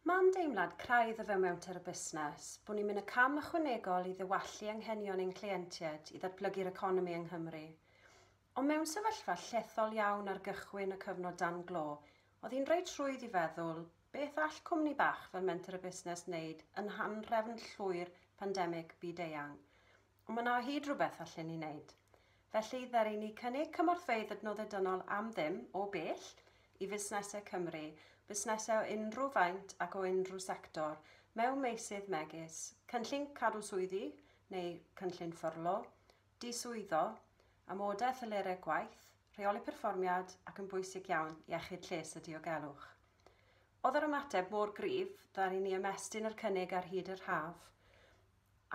Mae'n deimlad craidd o fewn menter y busnes bod ni'n mynd y cam ychwanegol i ddiwallu anghenion ein cleientiaid i ddatblygu'r economi yng Nghymru. Ond mewn sefyllfa llethol iawn ar gychwyn y cyfnod dan glo, oedd hi'n reit rhwydd i feddwl, beth all cwmni bach fel Menter y Busnes wneud yn nghanrefn llwyr pandemig byd-eang? Mae yna o hyd rhywbeth allen ni wneud. Felly, ddaru ni cynnig cymorthfeydd adnoddau dynol am ddim, o bell, i fusnesau Cymru, busnesau o unrhyw faint ac o unrhyw sector, mewn meysydd megis, cynllun cadw swyddi neu cynllun ffyrlo, diswyddo, amodau a thelerau gwaith, rheoli perfformiad ac yn bwysig iawn, iechyd lles a diogelwch. Oedd yr ymateb mor gryf, ddaru ni ymestyn yr cynnig ar hyd yr haf.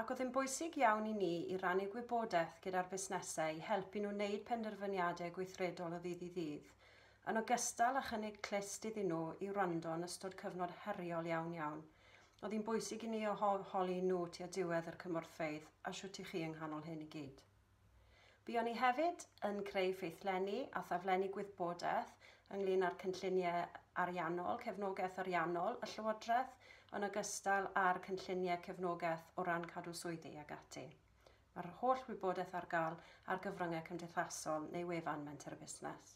Ac oedd yn bwysig iawn i ni i rannu gwybodaeth gyda'r busnesau i helpu nhw wneud penderfyniadau gweithredol o ddydd i ddydd, yn ogystal â chynnig clust iddyn nhw i wrando yn ystod cyfnod heriol iawn iawn. Oedd hi'n bwysig i ni eu holi nhw tua diwedd yr cymorthfeydd, a shwt i chi yng nghanol hyn i gyd. Buon ni hefyd yn creu ffeithlenni a thaflenni gwyddbodaeth ynglŷn â'r cynlluniau ariannol, cefnogaeth ariannol y Llywodraeth, yn ogystal â'r cynlluniau cefnogaeth o ran cadw swyddi ac ati. Mae'r holl wybodaeth ar gael ar gyfryngau cymdeithasol neu wefan Menter y Busnes.